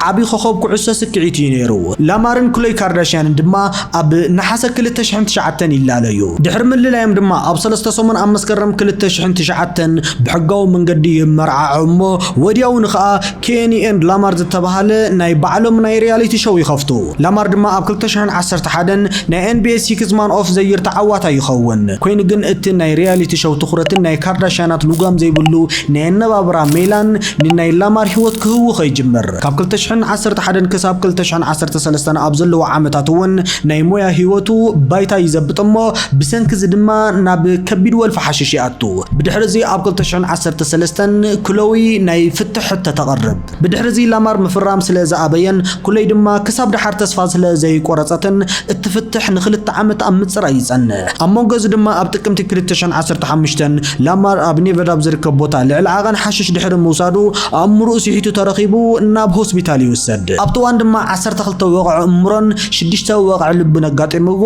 ዓቢ ኮኾብ ኩዕሶ ስክዒት እዩ ነይሩ። ላማርን ክሎይ ካርዳሽያንን ድማ ኣብ ነሓሰ ክልተ ሽሕን ትሽዓተን ይላለዩ። ድሕሪ ምልላዮም ድማ ኣብ ሰለስተ ሰሙን ኣብ መስከረም ክልተ ሽሕን ትሽዓተን ብሕጋዊ መንገዲ ይመርዓዑ እሞ ወዲያውኑ ከኣ ኬኒ ኤንድ ላማር ዝተባህለ ናይ ባዕሎም ናይ ሪያሊቲ ሸው ይኸፍቱ። ላማር ድማ ኣብ ክልተ ሽሕን ዓሰርተ ሓደን ናይ ኤንቢኤ ሲክስ ማን ኦፍ ዘ ይር ተዓዋታይ ይኸውን። ኮይኑ ግን እቲ ናይ ሪያሊቲ ሸው ትኹረትን ናይ ካርዳሽያናት ልጓም ዘይብሉ ናይ ኣነባብራ ሜላን ንናይ ላማር ህይወት ክህቡ ከይጅምር ካብ ክልተ ሽሕን ዓሰርተ ሓደን ክሳብ ክልተ ሽሕን ዓሰርተ ሰለስተን ኣብ ዘለዎ ዓመታት እውን ናይ ሞያ ህይወቱ ባይታ ይዘብጥ እሞ ብሰንኪ እዚ ድማ ናብ ከቢድ ወልፊ ሓሽሽ ይኣቱ። ብድሕሪ እዚ ኣብ ክልተ ሽሕን ዓሰርተ ሰለስተን ክሎዊ ናይ ፍትሕ ሕቶ ተቕርብ። ብድሕሪ እዚ ላማር ምፍራም ስለ ዝኣበየን ክሎይ ድማ ክሳብ ደሓር ተስፋ ስለ ዘይቆረጸትን እትፍትሕ ንክልተ ዓመት ኣብ ምጽራይ ይጸንሕ። ኣብ መንጎ እዚ ድማ ኣብ ጥቅምቲ ክልተ ሽሕን ዓሰርተ ሓሙሽተን ላማር ኣብ ኔቨዳ ኣብ ዝርከብ ቦታ ልዕሊ ዓቐን ሓሽሽ ድሕሪ ምውሳዱ ኣእምሮኡ ስሒቱ ተረኺቡ ናብ ሆስፒታል ይውሰድ። ኣብቲ እዋን ድማ ዓሰርተ ክልተ ወቕዒ እምሮን ሽዱሽተ ወቕዒ ልብን ኣጋጢምዎ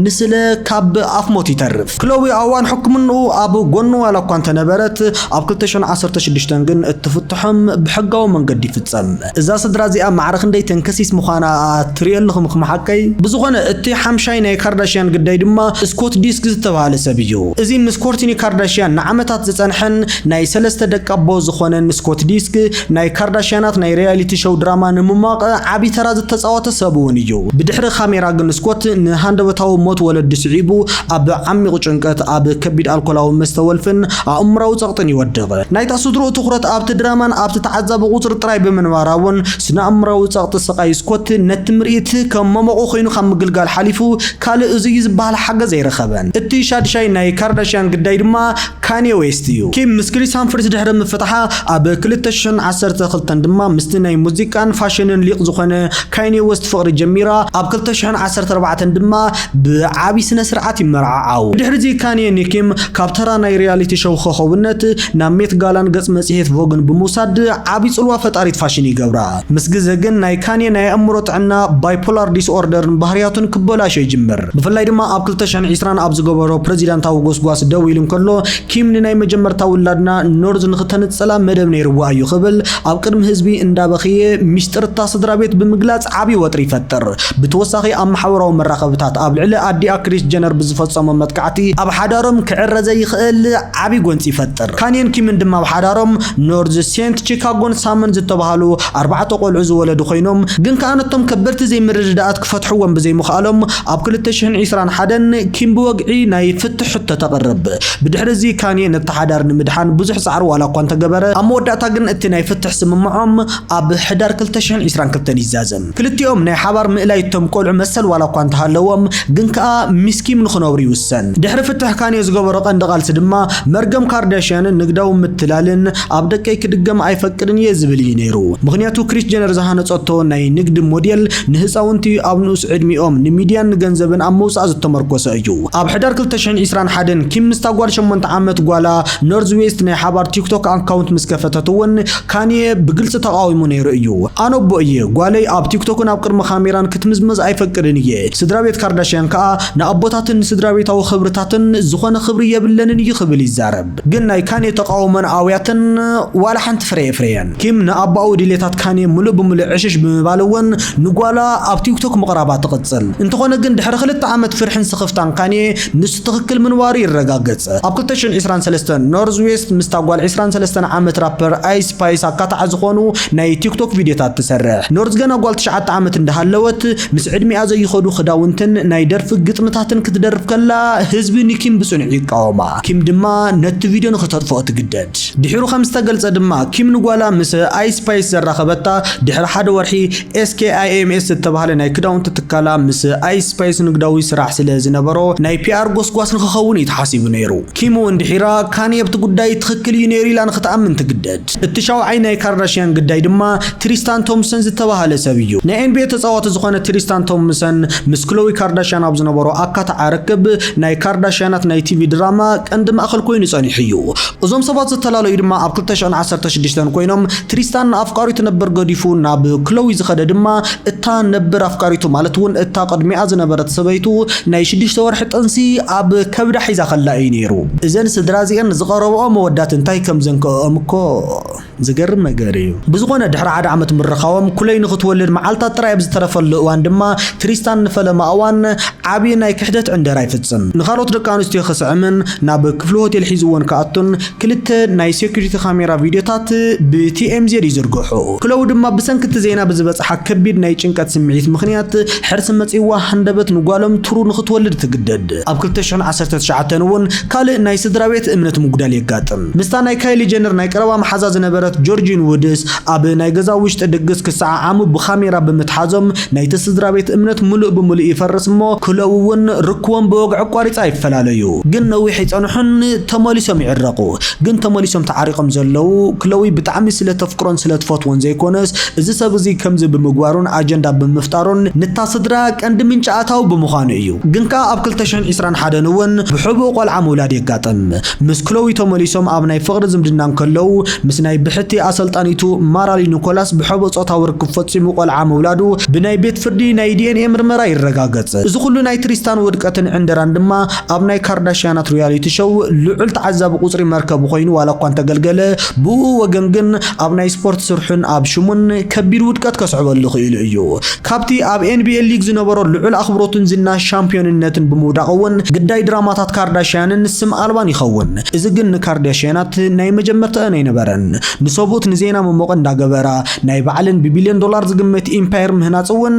ንስለ ካብ ኣፍ ሞት ይተርፍ። ክሎዊ ኣብ እዋን ሕክምንኡ ኣብ ጎኑ ዋላ እኳ እንተነበረት፣ ኣብ ክልተ ሽሕን ዓሰርተ ሽዱሽተን ግን እቲ ፍትሖም ብሕጋዊ መንገዲ ይፍጸም። እዛ ስድራ እዚኣ ማዕረ ክንደይ ተንከሲስ ምዃና ትሪኦ ኣለኹም እኽም ሓቀይ? ብዝኾነ እቲ ሓምሻይ ናይ ካርዳሽያን ግዳይ ድማ ስኮት ዲስክ ዝተብሃለ ሰብ እዩ። እዚ ምስ ኮርቲኒ ካርዳሽያን ንዓመታት ዝጸንሐን ናይ ሰለስተ ደቂ ኣቦ ዝኾነን ስኮት ዲስክ፣ ናይ ካርዳሽያናት ናይ ሪያሊቲ ሾው ድራማ ንምሟቕ ዓቢ ተራ ዝተጻወተ ሰብ እውን እዩ። ብድሕሪ ካሜራ ግን ስኮት ንሃንደበታዊ ሞት ወለዱ ስዒቡ ኣብ ዓሚቝ ጭንቀት ኣብ ከቢድ ኣልኮላዊ መስተ ወልፍን ኣእምራዊ ጸቕጥን ይወድቕ። ናይታ ስድርኡ ትኹረት ኣብቲ ድራማን ኣብቲ ተዓዛቢ ቁጽሪ ጥራይ ብምንባራ እውን ስነኣእምራዊ ጸቕጢ ስቓይ ስኮት ነቲ ምርኢት ከም መሞቒ ኮይኑ ካብ ምግልጋል ሓሊፉ ካልእ እዚ እዩ ዝበሃል ሓገዝ ኣይረኸበን። እቲ ሻድሻይ ናይ ካርዳሽያን ግዳይ ድማ ካንየ ዌስት እዩ። ኪም ምስ ክሪስ ሃምፍሪስ ድሕሪ ምፍታሓ ኣብ ክልተ ሽሕን ዓሰርተ ክልተን ድማ ምስቲ ናይ ሙዚቃን ፋሽንን ሊቅ ዝኾነ ካንየ ዌስት ፍቕሪ ጀሚራ፣ ኣብ ክልተ ሽሕን ዓሰርተ ኣርባዕተን ድማ ብዓቢ ስነ ስርዓት ይመርዓዓው። ብድሕሪዚ ካንየ ኒኪም ካብ ተራ ናይ ሪያሊቲ ሸው ኾኾብነት ናብ ሜት ጋላን ገጽ መጽሔት ቮግን ብምውሳድ ዓቢ ጽልዋ ፈጣሪት ፋሽን ይገብራ። ምስ ግዘ ግን ናይ ካንየ ናይ ኣእምሮ ጥዕና ባይፖላር ዲስኦርደርን ባህርያቱን ክበላሾ ይጅምር። ብፍላይ ድማ ኣብ ክልተ ሽሕን ዕስራን ኣብ ዝገበሮ ፕረዚዳንታዊ ጎስጓስ ደው ኢሉ እንከሎ ኪም ንናይ መጀመርታ ውላድና ኖርዝ ንኽተንጽላ መደብ ነይርዋ እዩ ክብል ኣብ ቅድሚ ህዝቢ እንዳበኽየ ሚስጥር እታ ስድራቤት ብምግላጽ ዓቢ ወጥሪ ይፈጥር። ብተወሳኺ ኣብ ማሕበራዊ መራኸብታት ኣብ ልዕሊ ኣዲኣ ክሪስ ጀነር ብዝፈጸሞ መጥቃዕቲ ኣብ ሓዳሮም ክዕረ ዘይኽእል ዓቢ ጎንጺ ይፈጥር። ካኒን ኪምን ድማ ኣብ ሓዳሮም ኖርዝ ሴንት ቺካጎን ሳምን ዝተባህሉ ኣርባዕተ ቆልዑ ዝወለዱ ኮይኖም ግን ከኣ ነቶም ከበድቲ ዘይምርድዳኣት ክፈትሕዎም ብዘይምኽኣሎም ኣብ ክልተ ሽሕን ዒስራን ሓደን ኪም ብወግዒ ናይ ፍትሕ ሕቶ ተቕርብ። ብድሕሪ እዚ ካኒየ ነቲ ሓዳር ንምድሓን ብዙሕ ጻዕሪ ዋላኳ እንተገበረ ኣብ መወዳእታ ግን እቲ ናይ ፍትሕ ስምምዖም ኣብ ሕዳር ክልተ ሽሕን ዒስራን ክልተን ይዛዘም። ክልቲኦም ናይ ሓባር ምእላይ እቶም ቆልዑ መሰል ዋላ እኳ እንተሃለዎም ግን ከኣ ሚስ ኪም ንኽነብሩ ይውሰን። ድሕሪ ፍትሕ ካንዮ ዝገበሮ ቀንዲ ቃልሲ ድማ መርገም ካርዳሽያንን ንግዳዊ ምትላልን ኣብ ደቀይ ክድገም ኣይፈቅድን እየ ዝብል እዩ ነይሩ። ምኽንያቱ ክሪስ ጀነር ዝሃነጸቶ ናይ ንግዲ ሞዴል ንህጻውንቲ ኣብ ንኡስ ዕድሚኦም ንሚድያን ንገንዘብን ኣብ ምውጻእ ዝተመርኮሰ እዩ። ኣብ ሕዳር ክልተ ሽሕን ዒስራን ሓደን ኪም ምስታ ጓል ሸሞንተ ዓመት ጓላ ኖርዝ ዌስት ናይ ሓባር ቲክቶክ ኣካውንት ምስ ከፈተት እውን፣ ካንየ ብግልጺ ተቓዊሙ ነይሩ እዩ። ኣነ ኣቦ እየ፣ ጓለይ ኣብ ቲክቶክን ኣብ ቅድሚ ካሜራን ክትምዝመዝ ኣይፈቅድን እየ። ስድራቤት ካርዳሽያን ከኣ ንኣቦታትን ንስድራቤታዊ ክብርታትን ዝኾነ ክብሪ የብለንን እዩ ክብል ይዛረብ። ግን ናይ ካንየ ተቓውሞን ኣውያትን ዋላ ሓንቲ ፍረ ኣየፍረየን። ኪም ንኣቦኣዊ ድሌታት ካንየ ምሉእ ብምሉእ ዕሽሽ ብምባል እውን ንጓላ ኣብ ቲክቶክ ምቕራባ ትቕጽል። እንተኾነ ግን ድሕሪ ክልተ ዓመት ፍርሕን ስኽፍታን ካንየ፣ ንሱ ትኽክል ምንባሩ ይረጋገጸ። ኣብ ክልተ ሽሕን ዕስራን ሰለስተን፣ ኖርዝ ዌስት ምስታ ጓል ዕስራን ሰለስተን ዓመት ራፐር ኣይስ ስፓይስ ኣካታዒ ዝኾኑ ናይ ቲክቶክ ቪድዮታት ትሰርሕ። ኖርዝ ገና ጓል ትሽዓተ ዓመት እንዳሃለወት፣ ምስ ዕድሚኣ ዘይኸዱ ክዳውንትን ናይ ደርፊ ግጥምታትን ክትደርፍ ከላ፣ ህዝቢ ንኪም ብጽኑዕ ይቃወማ። ኪም ድማ ነቲ ቪድዮ ንኽተጥፍኦ ትግደድ። ድሒሩ ከም ዝተገልጸ ድማ፣ ኪም ንጓላ ምስ ኣይስ ስፓይስ ዘራኸበታ ድሕሪ ሓደ ወርሒ፣ SKIMS ዝተባህለ ናይ ክዳውንቲ ትካላ ምስ ኣይ ስፓይስ ንግዳዊ ስራሕ ስለ ዝነበሮ ናይ ፒኣር ጎስጓስ ንክኸውን እዩ ተሓሲቡ ነይሩ። ኪም እውን ድሒራ ካንየ ኣብቲ ጉዳይ ትኽክል እዩ ነይሩ ኢላ ንክትኣምን ትግደድ። እቲ ሻውዓይ ናይ ካርዳሽያን ግዳይ ድማ ትሪስታን ቶምሰን ዝተባህለ ሰብ እዩ። ናይ ኤንቢኤ ተጻዋቲ ዝኾነ ትሪስታን ቶምሰን ምስ ክሎዊ ካርዳሽያን ኣብ ዝነበሮ ኣካታዓ ርክብ ናይ ካርዳሽያናት ናይ ቲቪ ድራማ ቀንዲ ማእኸል ኮይኑ ጸኒሑ እዩ። እዞም ሰባት ዝተላለዩ ድማ ኣብ ክልተ ሽሕን ዓሰርተ ሽዱሽተን ኮይኖም ትሪስታን ንኣፍቃሪቱ ነበር ገዲፉ ናብ ክሎዊ ዝኸደ ድማ እታ ነበር ኣፍቃሪቱ ማለት እውን እታ ቅድሚኣ ዝነበረት ሰበይቱ ናይ ሽዱሽተ ወርሒ ጥንሲ ኣብ ከብዳ ሒዛ ከላ እዩ ነይሩ። እዘን ስድራ እዚኤን ዝቐረበኦ መወዳት እንታይ ከም ዘንከኦኦም እኮ ዝገርም ነገር እዩ። ብዝኾነ ድሕሪ ሓደ ዓመት ምርኻቦም ክሎይ ንኽትወልድ መዓልታት ጥራይ ኣብ ዝተረፈሉ እዋን ድማ ትሪስታን ንፈለማ እዋን ዓቢ ናይ ክሕደት ዕንደራ ይፍጽም። ንኻልኦት ደቂ ኣንስትዮ ክስዕምን ናብ ክፍሊ ሆቴል ሒዝወን ክኣቱን ክልተ ናይ ሴኩሪቲ ካሜራ ቪድዮታት ብቲኤምዜድ ይዝርግሑ። ክሎው ድማ ብሰንኪ እቲ ዜና ብዝበጽሓ ከቢድ ናይ ጭንቀት ስምዒት ምኽንያት ሕርሲ መጺእዋ ሃንደበት ንጓሎም ትሩ ንኽትወልድ ትግደድ። ኣብ ክልተ ሽሕን ዓሰርተ ትሽዓተን እውን ካልእ ናይ ስድራቤት እምነት ምጉዳል የጋጥም። ምስታ ናይ ካይሊ ጀነር ናይ ቀረባ መሓዛ ዝነበረት ጆርጂን ውድስ ኣብ ናይ ገዛ ውሽጢ ድግስ ክሰዓዓሙ ብካሜራ ብምትሓዞም ናይቲ ስድራቤት እምነት ምሉእ ብምሉእ ይፈርስ እሞ ክለዉ ውን ርክቦም ብወግዒ ኣቋሪጻ ይፈላለዩ ግን ነዊሕ ኣይጸንሑን ተመሊሶም ይዕረቁ ግን ተመሊሶም ተዓሪቆም ዘለዉ ክለዊ ብጣዕሚ ስለ ተፍቅሮን ስለ ትፈትዎን ዘይኮነስ እዚ ሰብ እዚ ከምዚ ብምግባሩን ኣጀንዳ ብምፍጣሩን ንታ ስድራ ቀንዲ ምንጪ ኣታዊ ብምኳኑ እዩ ግን ከኣ ኣብ ክልተ ሽሕን ዒስራን ሓደን ውን ብሕቡእ ቆልዓ ምውላድ የጋጥም ምስ ክሎዊ ተመሊሶም ኣብ ናይ ፍቕሪ ዝምድና እንከለዉ፣ ምስ ናይ ብሕቲ ኣሰልጣኒቱ ማራሊ ኒኮላስ ብሕቡእ ጾታዊ ርክብ ፈጺሙ ቆልዓ ምውላዱ ብናይ ቤት ፍርዲ ናይ ዲኤንኤ ምርመራ ይረጋገጽ። እዚ ኩሉ ናይ ትሪስታን ውድቀትን ዕንደራን ድማ ኣብ ናይ ካርዳሽያናት ሪያሊቲ ሾው ልዑል ተዓዛቢ ቁጽሪ መርከቡ ኮይኑ ዋላ እኳ እንተገልገለ፣ ብኡኡ ወገን ግን ኣብ ናይ ስፖርት ስርሑን ኣብ ሽሙን ከቢድ ውድቀት ከስዕበሉ ክኢሉ እዩ። ካብቲ ኣብ ኤንቢኤ ሊግ ዝነበሮ ልዑል ኣኽብሮትን ዝና ሻምፕዮንነትን ብምውዳቕ እውን ግዳይ ድራማታት ካርዳሽያንን ስም ኣልባን ይኸውን። እዚ ግን ንካርዳሽያናት ናይ መጀመርተኣን ኣይነበረን። ንሰብኡት ንዜና መሞቒ እንዳገበራ ናይ ባዕለን ብቢልዮን ዶላር ዝግመት ኢምፓየር ምህናጽ እውን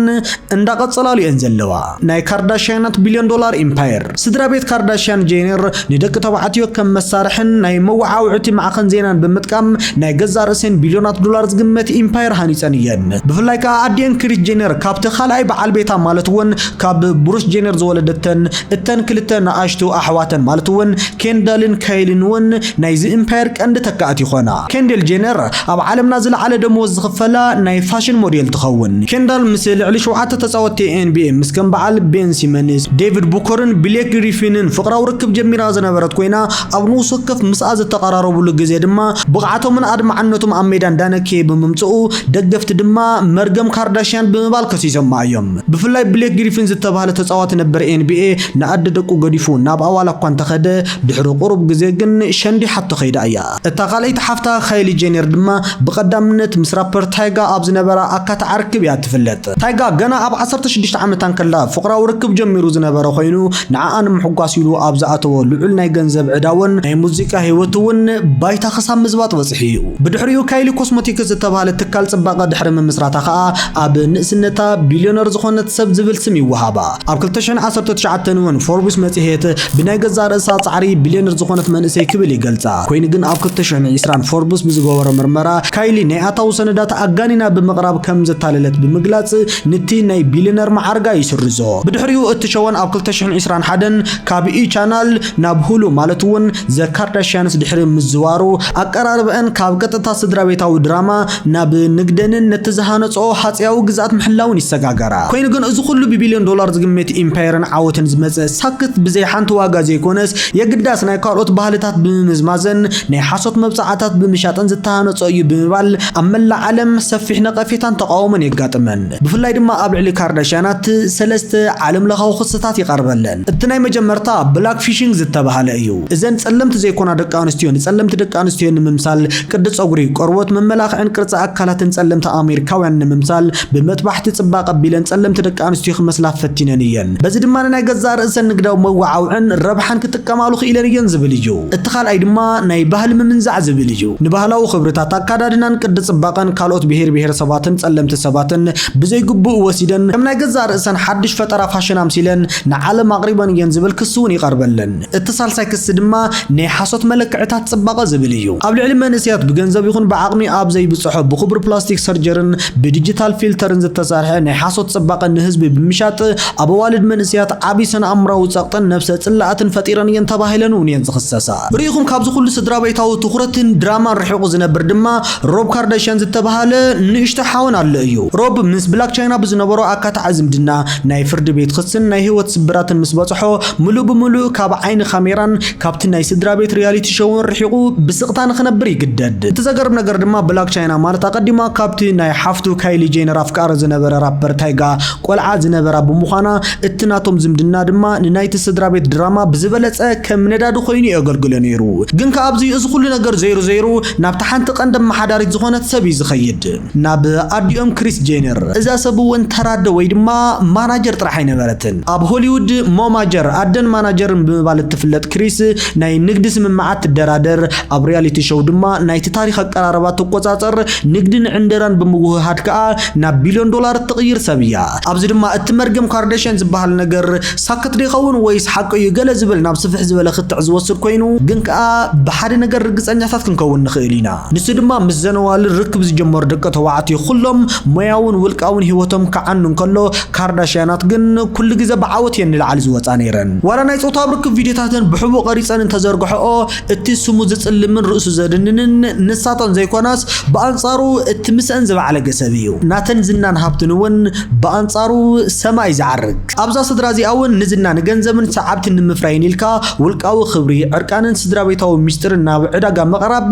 እንዳቐጸላሉ እየን ዘለዋ። ናይ ካርዳሽያናት ቢልዮን ዶላር ኢምፓየር። ስድራ ቤት ካርዳሽያን ጄነር ንደቂ ተባዕትዮ ከም መሳርሕን ናይ መወዓውዕቲ ማዕኸን ዜናን ብምጥቃም ናይ ገዛእ ርእሰን ቢልዮናት ዶላር ዝግመት ኢምፓየር ሃኒጸን እየን። ብፍላይ ከኣ ኣዲኤን ክሪስ ጄነር ካብቲ ካልኣይ በዓል ቤታ ማለት እውን ካብ ብሩስ ጄነር ዝወለደተን እተን ክልተ ንኣሽቱ ኣሕዋተን ማለት እውን ኬንዳልን ካይልን እውን ናይዚ ኢምፓየር ቀንዲ ተካእቲ ይኾና። ኬንደል ጄነር ኣብ ዓለምና ዝለዓለ ደመወዝ ዝኽፈላ ናይ ፋሽን ሞዴል ትኸውን። ኬንዳል ምስ ልዕሊ ሸውዓተ ተጻወትቲ ኤንቢኤ ምስ ከም በዓል ቤን ሲመንስ፣ ዴቪድ ቡከርን ብሌክ ግሪፊንን ፍቕራዊ ርክብ ጀሚራ ዝነበረት ኮይና፣ ኣብ ንኡስ ወከፍ ምስኣ ዝተቐራረብሉ ግዜ ድማ ብቕዓቶምን ኣድማዕነቶም ኣብ ሜዳ እንዳነከየ ብምምጽኡ ደገፍቲ ድማ መርገም ካርዳሽያን ብምባል ከሲሶማ እዮም። ብፍላይ ብሌክ ግሪፊን ዝተባህለ ተጻዋቲ ነበር ኤንቢኤ ንኣደ ደቁ ገዲፉ ናብ ኣዋላ እኳ እንተኸደ ድሕሪ ቁሩብ ግዜ ግን ሸንዲሓቶ ከይዳ እያ። እታ ካልኣይቲ ሓፍታ ካይሊ ጄነር ድማ ብቐዳምነት ምስ ራፐር ታይጋ ኣብ ዝነበራ ኣካታዒ ርክብ እያ እትፍለጥ። ታይጋ ገና ኣብ ዓሰርተ ሽዱሽተ ዓመታ እንከላ ፍቕራዊ ርክብ ጀሚሩ ዝነበረ ኾይኑ፣ ንዓኣ ንምሕጓስ ኢሉ ኣብ ዝኣተዎ ልዑል ናይ ገንዘብ ዕዳ'ውን ናይ ሙዚቃ ህይወቱ'ውን ባይታ ክሳብ ምዝባጥ በጺሑ እዩ። ብድሕሪኡ ካይሊ ኮስሞቲክስ ዝተባህለ ትካል ጽባቐ ድሕሪ ምምስራታ ከኣ ኣብ ንእስነታ ቢልዮነር ዝኾነት ሰብ ዝብል ስም ይወሃባ። ኣብ ክልተ ሽሕን ዓሰርተ ትሽዓተን እውን ፎርብስ መጽሔት ብናይ ገዛእ ርእሳ ጻዕሪ ቢልዮነር ዝኾነት መንእሰይ ክብል ይገልጻ። ኮይኑ ግን ኣብ ክልተ ሽሕን ዕስራን ፎርብስ ብዝገበሮ ምርመራ ካይሊ ናይ ኣታዊ ሰነዳት ኣጋኒና ብምቕራብ ከም ዘታለለት ብምግላጽ ንቲ ናይ ቢልዮነር መዓርጋ ይስርዞ። ብድሕሪኡ እቲ ሸወን ኣብ ክልተ ሽሕን ዕስራን ሓደን ካብ E! ቻናል ናብ ሁሉ ማለት እውን ዘ ካርዳሽያንስ ድሕሪ ምዝዋሩ ኣቀራርበኣን ካብ ቀጥታ ስድራቤታዊ ድራማ ናብ ንግደንን ነቲ ዝሃነጽኦ ሃጸያዊ ግዝኣት ምሕላውን ይሰጋገራ። ኮይኑ ግን እዚ ኩሉ ብቢልዮን ዶላር ዝግመት ኢምፓየርን ዓወትን ዝመጸ ሳክት ብዘይ ሓንቲ ዋጋ ዘይኮነስ የግዳስ ናይ ካልኦት ባህልታት ብምምዝማዘን ናይ ሓሶት መብጽዓታት ብምሻጥን ዝተሃነጾ እዩ ብምባል ኣብ መላእ ዓለም ሰፊሕ ነቐፌታን ተቓውሞን የጋጥመን። ብፍላይ ድማ ኣብ ልዕሊ ካርዳሽያናት ሰለስተ ዓለምለኻዊ ክስታት ይቐርበለን። እቲ ናይ መጀመርታ ብላክ ፊሺንግ ዝተበሃለ እዩ። እዘን ጸለምቲ ዘይኮና ደቂ ኣንስትዮ ንጸለምቲ ደቂ ኣንስትዮ ንምምሳል ቅዲ ጸጉሪ፣ ቆርቦት፣ መመላኽዕን ቅርጺ ኣካላትን ጸለምቲ ኣሜሪካውያን ንምምሳል ብመጥባሕቲ ጽባቐ ኣቢለን ጸለምቲ ደቂ ኣንስትዮ ክመስላ ፈቲነን እየን። በዚ ድማ ንናይ ገዛእ ርእሰን ንግዳዊ መወዓውዕን ረብሓን ክጥቀማሉ ክኢለን እየን ዝብል እዩ። እቲ ካልኣይ ድማ ናይ ባህሊ ምምንዛዕ ዝብል እዩ። ንባህላዊ ክብርታት፣ ኣካዳድናን ቅዲ ጽባቐን ካልኦት ብሄር ብሄረሰባትን ጸለምቲ ሰባትን ብዘይግቡእ ወሲደን ከም ናይ ገዛእ ርእሰን ሓድሽ ፈጠራ ፋሽን ኣምሲለን ንዓለም ኣቕሪበን እየን ዝብል ክሲ እውን ይቐርበለን። እቲ ሳልሳይ ክሲ ድማ ናይ ሓሶት መለክዕታት ጽባቐ ዝብል እዩ። ኣብ ልዕሊ መንእሰያት ብገንዘብ ይኹን ብዓቕሚ ኣብ ዘይብጽሖ ብኽቡር ፕላስቲክ ሰርጀርን ብዲጂታል ፊልተርን ዝተሰርሐ ናይ ሓሶት ጽባቐ ንህዝቢ ብምሻጥ ኣብ ኣዋልድ መንእሰያት ዓቢ ስነ-ኣእምሮኣዊ ጸቕጥን ነብሰ ጽልኣትን ፈጢረን እየን ተባሂለን እውን እየን ዝኽሰሳ። ርኢኹም ካብዚ ኩሉ ስድራቤታዊ ትኹረትን ድራማን ርሒቑ ዝነብር ድማ ሮብ ካርዳሽያን ዝተበሃለ ንእሽቶ ሓወን ኣሎ እዩ። ሮብ ምስ ብላክ ቻይና ብዝነበሮ ኣካታዒ ዝምድና፣ ናይ ፍርዲ ቤት ኽስን ናይ ህይወት ስብራትን ምስ በጽሖ፣ ምሉእ ብምሉእ ካብ ዓይኒ ካሜራን ካብቲ ናይ ስድራ ቤት ሪያሊቲ ሾውን ርሒቑ ብስቕታ ንኽነብር ይግደድ። እቲ ዘገርም ነገር ድማ ብላክ ቻይና ማለት ኣቐዲማ ካብቲ ናይ ሓፍቱ ካይሊ ጄነር ኣፍቃሪ ዝነበረ ራፐር ታይጋ ቆልዓ ዝነበራ ብምዃና፣ እቲ ናቶም ዝምድና ድማ ንናይቲ ስድራ ቤት ድራማ ብዝበለጸ ከም ነዳዲ ኾይኑ እዩ ኣገልግሎ ነይሩ። ግን ከኣ ኣብዚ እዚ ኹሉ ነገር ዘይሩ ዘይሩ፣ ናብታ ሓንቲ ቀንዲ ኣመሓዳሪት ዝኾነት ሰብ እዩ ዝኸይድ፣ ናብ ኣዲኦም ክሪስ ጄነር። እዛ ሰብ እውን ተራ ኣደ ወይ ድማ ማናጀር ጥራሕ ኣይነበረትን። ኣብ ሆሊውድ ሞማጀር፣ ኣደን ማናጀርን ብምባል እትፍለጥ ክሪስ፣ ናይ ንግዲ ስምምዓት ትደራደር፣ ኣብ ሪያሊቲ ሾው ድማ ናይቲ ታሪኽ ኣቀራርባ ትቆጻጸር፣ ንግድን ዕንደራን ብምውህሃድ ከኣ ናብ ቢልዮን ዶላር እትቕይር ሰብ እያ። ኣብዚ ድማ እቲ መርገም ካርዳሽያን ዝበሃል ነገር ሳክት ዶ ይኸውን ወይስ ሓቁ እዩ ገለ ዝብል ናብ ስፍሕ ዝበለ ክትዕ ዝወስድ ኮይኑ፣ ግን ከኣ ብሓደ ነገር ርግጸኛታት ክንከውን ንኽእል ኢና፣ ንሱ ድማ ምስ ዘነዋል ርክብ ዝጀመሩ ደቂ ተባዕትዮ ኩሎም ሞያውን ውልቃውን ህይወቶም ክዓኑ እንከሎ፣ ካርዳሽያናት ግን ኩሉ ግዘ ብዓወት እየን ንላዕሊ ዝወጻ ነይረን። ዋላ ናይ ጾታዊ ርክብ ቪድዮታተን ብሕቡእ ቀሪጸን እንተዘርግሐኦ እቲ ስሙ ዝጽልምን ርእሱ ዘድንንን ንሳተን ዘይኮናስ ብኣንጻሩ እቲ ምስአን ዝበዓለገ ሰብ እዩ። ናተን ዝናን ሃብትን እውን ብኣንጻሩ ሰማይ ዝዓርግ። ኣብዛ ስድራ እዚኣ እውን ንዝና፣ ንገንዘብን ሰዓብትን ንምፍራይን ኢልካ ውልቃዊ ክብሪ፣ ዕርቃንን ስድራቤታዊ ምስጢርን ናብ ዕዳጋ ምቕራብ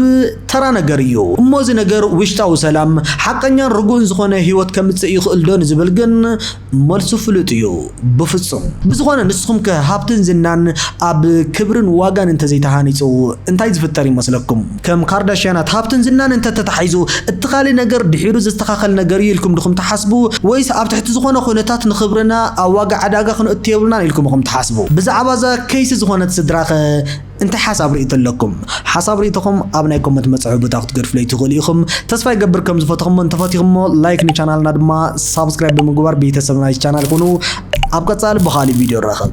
ተራ ነገር እዩ። እሞ እዚ ነገር ውሽጣዊ ሰላም፣ ሓቐኛን ርጉእን ዝኾነ ህይወት ከምጽእ ይኽእልዶ ንዝብል ግን መልሱ ፍሉጥ እዩ፣ ብፍጹም። ብዝኾነ ንስኹምከ ሃብትን ዝናን ኣብ ክብርን ዋጋን እንተዘይተሃኒጹ እንታይ ዝፍጠር ይመስለኩም? ከም ካርዳሽያናት ሃብትን ዝናን እንተ ተታሒዙ፣ እቲ ካልእ ነገር ድሒሩ ዝስተኻኸል ነገር እዩ ኢልኩም ድኹም ትሓስቡ? ወይስ ኣብ ትሕቲ ዝኾነ ኩነታት ንኽብርና ኣብ ዋጋ ዕዳጋ ክንእቱ የብልናን ኢልኩም ኢኹም ትሓስቡ? ብዛዕባ እዛ ከይሲ ዝኾነት ስድራኸ እንታይ ሓሳብ ርእይቶ ኣለኩም? ሓሳብ ርእይቶኹም ኣብ ናይ ኮመንት መጽሐቢ ቦታ ክትገድፉለይ ትኽእሉ ኢኹም። ተስፋ ይገብር ከም ዝፈተኹሞን ተፈቲኹሞ። ላይክ ንቻናልና ድማ ሳብስክራይብ ብምግባር ቤተሰብ ናይዚ ቻናል ኩኑ። ኣብ ቀጻሊ ብኻልእ ቪድዮ ንራኸብ።